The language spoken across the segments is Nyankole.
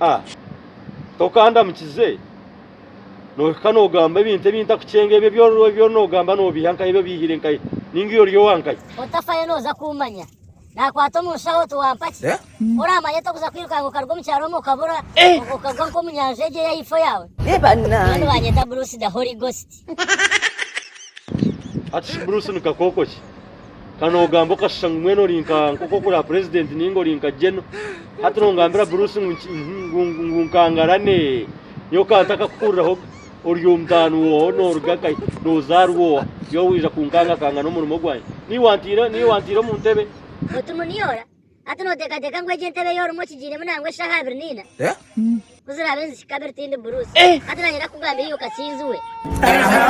A, Tokandamukize, nohika nogamba ebintu ebi ntakukyenga, ebyo ebi ori- ebi ori nogamba nobiiha nkahi, ebi obiihire nkahi, ninga ebi ori owa nkahi. Otafayo noza kummanya. Nakwata omu nshaho oti wampa ki? Oramanya ota kuza kwirukanga okaruga omu kyaro omwe okabura, okagwa nk'omu nyanja egyo ey'ahaifo yaawe? Mbwenu banyeta Bruce the Holy Ghost. Hati shi Bruce ni kakooko ki? Ka noogamba okashusha ngu mbwenu ori nka nk'oku okuraba purezidenti nainga ori nka Geno. Hati noongambira Bruce ngu nki- ngu ngu- ngu nkangarane? Nyowe ka ntakakuhuriraho ga. Ori omutaano w'oha? Nooruga ka? Noozaarwa oha? Iwe waija kunkangakanga n'omurimo gwangye? Niiwe wantiire niiwe wantiire omu ntebe? Otu muniora Hati noteekateeka ngu egi entebe ei orimu okigiiremu nangwa eshaaha abiri naina? Ku ziraabe nizihika abiri tindi buruusi. Hati naanye ndakugambira iwe Kakinzi we.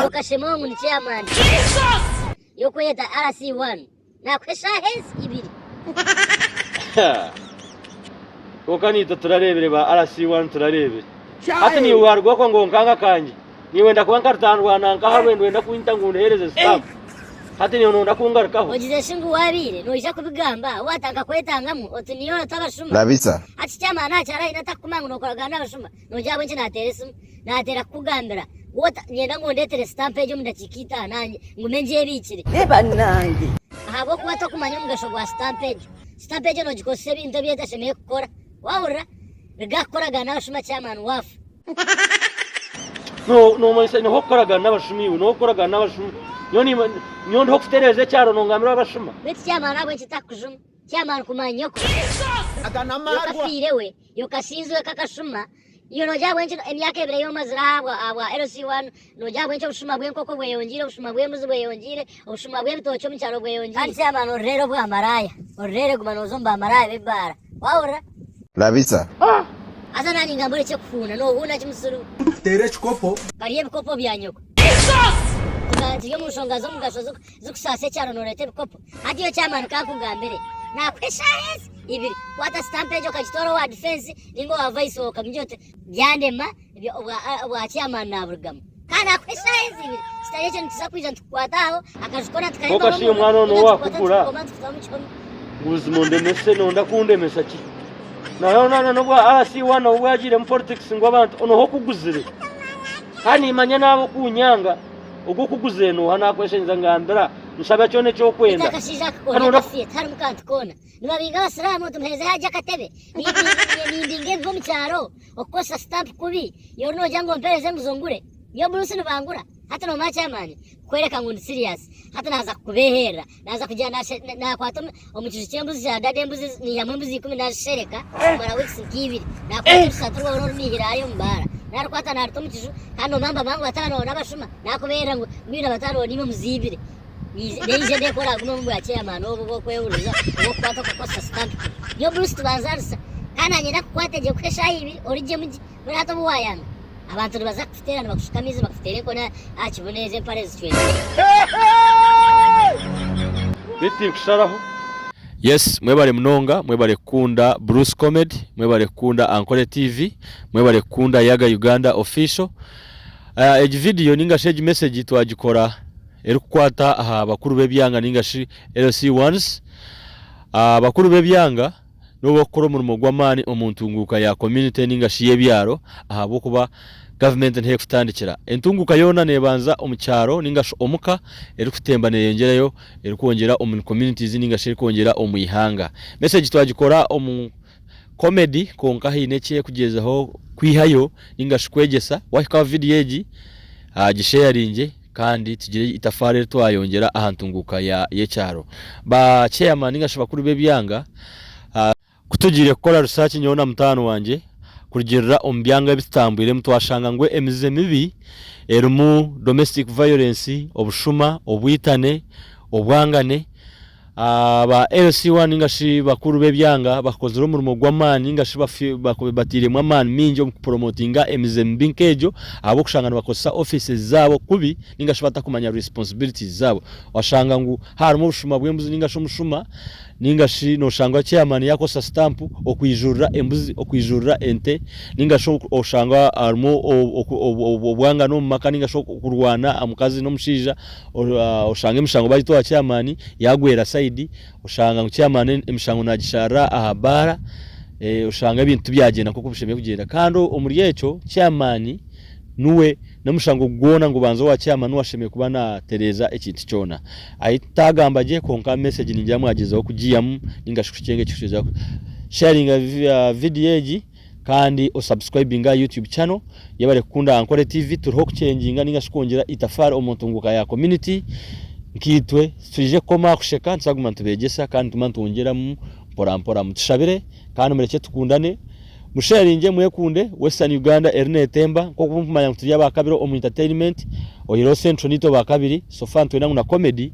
Okashemwa ngu ni chairman y'okweyeta RC one. Naakuha eshaaha ezi ibiri. Kwonka naitwe turareebire ba RC one turareebire. Hati niiwe waaruga okwo ngu onkanga kangye? niiwe ndakuba nkarutandwana nkaha rwendo wenda kunyita ngu ndehereze sitamu hati niiwe nonda kungarukaho Ogize shi ngu waabaire noija kubigamba waata nkakwetangamu oti niiwe oratwa abashuma? Rabisa. Hati eky'amaani aha kyaraahi nataha kukuma ngu nokoragana n'abashuma noogira ahabw'enki naateera esimu naateera kukugambira waata niinyenda ngu ondeetere sitamu egi omu dakiika itaano nanye ngume ngyebiikire Hee bannange! Ahabw'okuba tokumanya omugasho gwa sitamu egyo. Sitamu egyo noogikozesa ebintu ebi etashemereire kukora. Wahurira nigakukoragana n'abashuma chairman wafa. Nomanyisa niho okukoragana n'abashuma iwe niho okukoragana n'abashuma nyowe ndiho kutereeza ekyaro nongamirwa abashuma. Beitu chairman ahabw'enki takukujuma chairman kumanyoko. Yoka afiire we yoka asinzwe k'akashuma Iwe noogira ahabw'enki emyaka ebiri ei omazire ahabwa ahabwa LC1 noogira ahabw'enki obushuma bw'enkoko bweyongiire, obushuma bw'embuzi bweyongiire, obushuma bw'ebitookye omu kyaro bweyongiire. Kandi chairman orireere obwa maraaya, orireere guma nooza omu ba maraaya b'ebibaara. Wahurira? Labisa. Haza naanye ngamba orekye kuhuuna, noohuuna ki musuru? Kuteera ekikopo. Barya ebikopo bya nyoko. Turi omu nshonga z'omugasho z'oku. z'okushasa ekyaro nooreeta ebikopo hati yo chairman ka nkugambire naakuha eshaaha ezi ibiri kwata sitampu egyo okagitwara owa difensi ninga owa vaisi wawe okamugira oti byandema bya- obwa ah, obwa chairman naaburugamu kandi naakuha eshaaha ezi ibiri kitari ekyo nituza kwija nitukukwata aho akaju koona tukahemba Kwonka shi omwana ono owakugura? tukutamu kihome buzima ondemese nonda kundemesa ki naye onana n'obwa rc1 obu bwagiiremu politics ngu abantu onoho okuguzire kandi nimanya naaba okunyanga Ogwo kuguzeenooha naakweshengyeza ngambira nshaba kyona eki orikwenda. Akashaija aka koona akafire tiharimu kantu koona. Nibabiinga Abasiraamu nti muheezeho agye akatebe. Nimbinga ebibi omu kyaro, okukoresa sitampu kubi. Iwe ori noogira ngu mpeereze enguzo ngure? Nyowe omu nsi nibangura? Hati noomanya ky'amaani kukworeka ngu ndi siriyaasi. Hati naaza kukubeeherera. naaza kugira naakwata omu kiju ky'embuzi za dada embuzi naihamu embuzi ikumi naazishereka kumara wiikisi nk'eibiri naakwata orusati rwawe oru orunihire hariya omu baara naarukwata naaruta omu kiju kandi noomamba mpambu bataano bawe n'abashuma naakubeerera ngu mbwenu abataano bawe niiwe omuziibire neija ndeekora agume omu bwakyeyamaani obu bw'okwehuriza obw'okukwata okakoresa sitampu niyo burusu tubanzaarisa kandi naanye ndakukwate gye kuha eshaaha ibiri origyemu gye Mbwenu hati obu waayanga, abantu nibaza kukuteerana bakushuke amaizi bakuteere enkoni aha kibunu ezo empare zicwekire. Yes mwebare munonga mwebare kukunda Bruce comedy mwebare kukunda Ankole TV mwebare kukunda Yaga Uganda official Egi video ninga shi egi message twagikora eri kukwata aha bakuru b'ebyanga ninga shi LC ones Bakuru b'ebyanga. n'obu barikukora omurimo gw'amaani omu ntunguuka ya community ninga shi y'ebyaro ahabw'okuba gavumenti niho erikutandikira. Entunguuka yoona neebanza omu kyaro ninga shi omu ka, erikutemba neeyengyerayo erikwongyera omu communities ninga shi erikwongyera omu ihanga. Message twagikora omu comedy kwonka haine eki erikugyezaho kwihayo ninga shi kwegyesa, waahikaho vidiyo egi gisheyaringye. kandi tugire itafaari eri twayongyera aha ntunguuka y'ekyaro. Ba Chairman ninga shi bakuru b'ebyanga, ku tugiire kukora research nyowe na mutaano wangye kurugirira omu byanga ebi tutambwiremu twashanga ngu emizizo emibi erimu domestic violence, obushuma, obwitane, obwangane, Aba LC1 ninga shi bakuru b'ebyanga bakozire omurimo gw'amaani ninga shi batairemu amaani maingi omu kuporomotinga emize mibi nk'egyo ahabw'okushanga nibakozesa offices zaabo kubi ninga shi batakumanya responsibilities zaabo. Washanga ngu haarimu obushuma bw'embuzi ninga shi omushuma ninga shi noshanga chairman yakozesa stamp okwijurira embuzi, okwijurira ente ninga shi oshanga harimu obwangano omu maka ninga shi okurwana aha mukazi n'omushaija. Oshanga emishango bagituha chairman yagwera side, oshanga ngu chairman emishango nagisharira aha baara, oshanga ebintu tibyagyenda nkoku bishemereire kugyenda. Kandi omuri ekyo chairman niwe n'omushango gwona ngubanza owa chairman niwe ashemereire kuba natereeza ekintu kyona. Ahi tutagamba gye kwonka message ningira mwagyezaho kugiihamu ninga shi kukyenga eki kushija sharinga video egi. Kandi o subscribinge aha YouTube channel Yebare kukunda aha Nkore TV Turiho kucenginga ninga shi kwongyera itafaari omu ntunguuka ya community Nkaitwe titwije kukoma aha kusheka nituzaguma nitubegyesa kandi nituguma nitwongyeramu mpora mpora Mutushabire kandi murekye tukundane Musharinge mwekunde Western Uganda eri netemba Nk'oku murikumanya ngu turi aba kabiri omu entertainment Oyireho central niitwe ba kabiri so far nitwenda ngu na comedy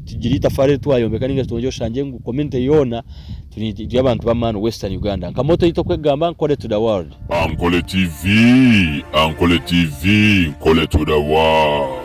tugire itafaari eri twayombeka ninga shi twongye oshange ngu community yoona turi turi abantu b'amaani western Uganda nka motto yaitu okwegamba Nkole to the world. Ankole TV, Ankole TV, Nkole to the world.